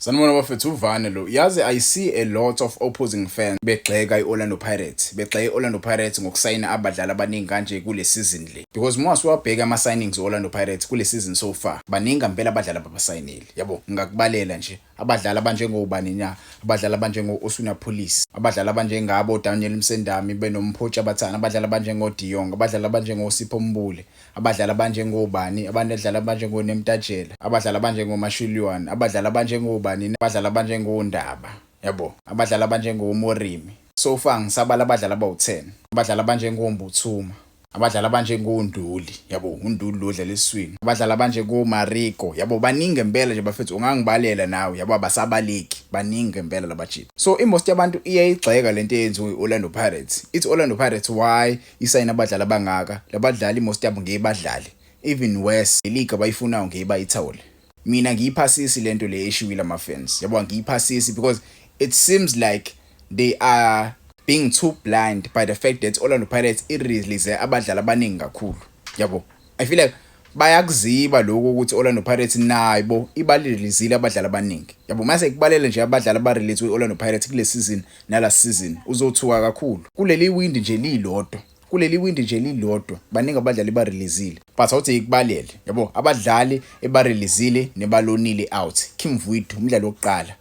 Sanibona bafethu uvane lo yazi i see a lot of opposing fans begxeka i-Orlando Pirates begxeka i-Orlando Pirates ngokusayina abadlali abaningi kanje kule season le because uma siwabheka ama signings e-Orlando Pirates kule season so far baningi ngempela abadlali ababasayinile yabo ngingakubalela nje abadlali abanjengobani na abadlali abanjengo-Osuna Police abadlali abanjengabo Daniel Msendami benomphotsha abathana abadlali abanjengo-Diong abadlali abanjengo-Sipho Mbule abadlali abanjengobani abadlali abanjengonemtajela abadlali abanjengomashuliywana abadlali abanjengobani abadlali abanjengondaba yabo abadlali abanjengomorimi so far ngisabala abadlali abawu-10 abadlali abanjengombuthuma abadlali abanjengonduli yabo unduli lo dlala eswini abadlali abanjengomarigo yabo baningi ngempela nje bafethu ungangibalela nawe yabo abasabaleki baningi ngempela labajita so imost yabantu iyayigxeka lento eyenziwe i-orlando pirates ithi orlando pirates why isayina abadlali abangaka labadlali most yabo ngeke badlale even worse league abayifunayo ngeke bayithole mina ngiyiphasisi lento le eshiwile ama fans yabo ngiyiphasisi because it seems like they are being too blind by the fact that Orlando Pirates irelease abadlali abaningi kakhulu yabo I feel like bayakuziba lokho ukuthi Orlando Pirates nayo bo ibalelizile abadlali abaningi yabo mase kubalele nje abadlali abarelate kwi-Orlando Pirates kule season nala season uzothuka kakhulu kuleli windi nje lilodwa kuleli windi nje lilodwa baningi abadlali barelizile but awuthi ikubalele yabo abadlali ebarelizile nebalonile out Kim Vuitu umdlali wokuqala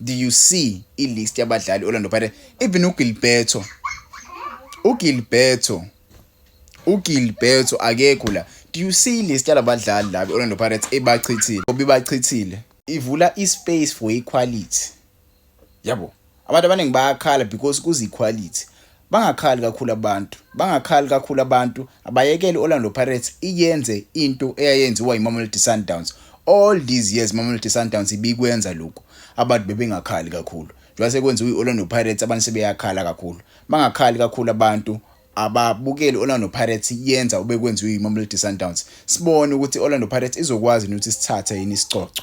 do you see i-list yabadlali Orlando Pirates even uGilberto uGilberto uGilberto akekho la do you see i-list yalabadlali laba Orlando Pirates ebachithile obibachithile ivula i-space for equality yabo abantu abaningi bayakhala because kuze equality Bangakhali kakhulu abantu. Bangakhali kakhulu abantu. Abayekele i-Orlando Pirates iyenze into eyayenziwa yiMamelodi Sundowns. All these years Mamelodi Sundowns ibikwenza lokhu. Abantu bebengakhali kakhulu. Njengoba sekwenziwa i-Orlando Pirates abantu sebeyakhala kakhulu. Bangakhali kakhulu abantu ababukeli Orlando Pirates yenza obekwenziwa yiMamelodi Sundowns. Sibone ukuthi Orlando Pirates izokwazi ukuthi sithathe yini isicoco.